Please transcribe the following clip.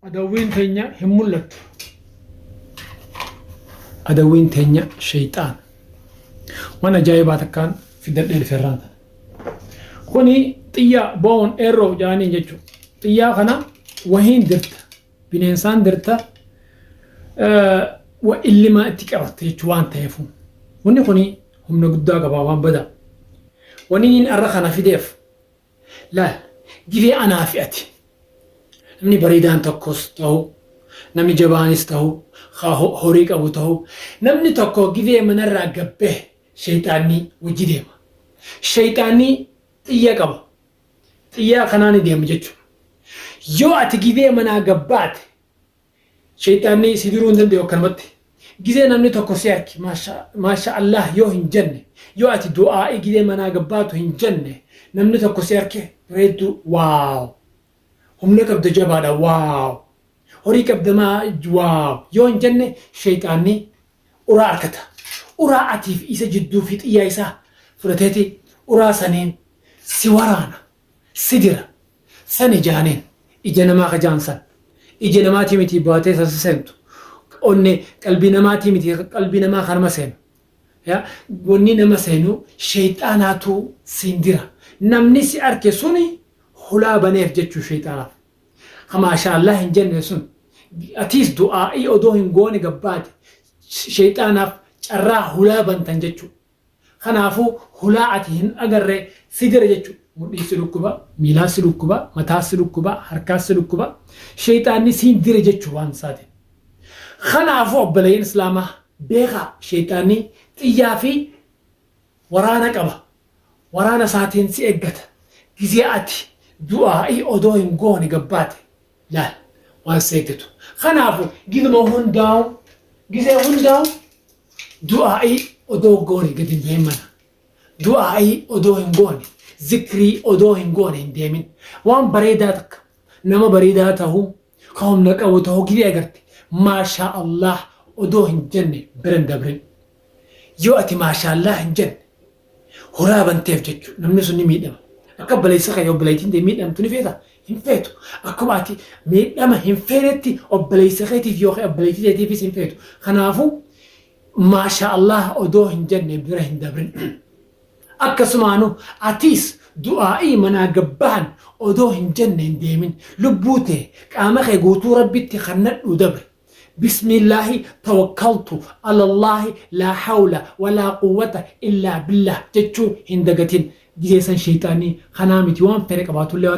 Adawwiin teenya hin mul'attu. Adawwiin teenya sheeyxaan. Waan ajaa'ibaa takkaan fiddadhee dhufe irraa tana. Kuni xiyyaa boon eerroo jaaniin jechuudha. Xiyyaa kana wahiin dirta. Bineensaan dirta wa illimaa itti qabatte jechuu waan ta'eef. Wanni kuni humna guddaa qaba waan badaa. Wanni inni irra kana fideef Laal, Gilee anaa fi ati. Namni bareedaan tokkos tahu, namni jabaanis tahu, ka ho- horii qabu tahu, namni tokko gilee manarraa gad bahe sheyxaanni wajji deema. Sheyxaanni xiyya qaba. Xiyyaa kanaani deema jechuudha. Yoo ati gilee manaa gad baate, Sheyxaanni si diruu hin dandayu akkanumatti. Gizee namni tokko si arke maasha allaah yoo hin janne, yoo ati du'aa'ii gizee manaa gabbaatu hin janne namni tokko si arke bareedduu wow! Humna qabda jabaadha wow! Horii qabda maa wow! yoo hin janne sheyxaanni uraa arkata. Uraa atiif isa jidduu fixiyyaa isaa fudhateeti uraa saniin si waraana. Si jira San ijaaneen ija namaa ka jaan san ija namaatii mitii baatee san si seentu onne qalbii namaatii mitii ka qalbii namaa ka nama seenu ya wonni nama seenu sheyxaanaatu siin jira namni si arke suni hulaa baneef jechuu sheyxaanaaf ka maashaa allaah hin jenne sun atiis du'aa'ii odoo hin goone gabbaate sheyxaanaaf carraa hulaa bantan jechuu. Kanaafuu hulaa ati hin agarre si jira jechu. Mudhiis si dhukkuba, miilaas si dhukkuba, mataas si dhukkuba, harkaas si dhukkuba. Sheyxaanni siin jira jechu waan isaati. Kanaafuu obboleeyyan Islaamaa beekaa sheyxaanni xiyyaa fi waraana qaba. Waraana isaatiin si eggata. Gizee ati du'aa'ii odoo hin goone gabbaate Laal waan si eeggatu. Kanaafu gizuma hundaa'u gizee hundaa'u du'aa'ii odoo goone gadi hin bahin mana. Du'aa'ii odoo hin goone zikrii odoo hin goone hin deemin. Waan bareedaa takka nama bareedaa ta'uu ka humna qabu ta'uu gizee agarte maashaa Allah odoo hin jenne bira hin dabrin. Yoo ati maashaallaah hin jenne horaa banteef jechuudha namni sun ni miidhama. Akka obboleessa kee obboleettiin tee miidhamtu ni feeta hin feetu. Akkuma ati miidhama hin feenetti obboleessa keetiif yookiin obboleettii teetiifis hin feetu. Kanaafuu maashaallaah odoo hin jenne bira hin dabrin. Akkasumaanu atiis du'aa'ii manaa gabbahan odoo hin jenne hin deemin. Lubbuu tee qaama kee guutuu rabbitti kannadhuu dabri. Bismillahi tawakkaltu alallahi laa hawla walaa quwwata illaa billah jechuu hin dagatin gizee san sheyxaanni kanaa miti waan fedhe qabaatullee waan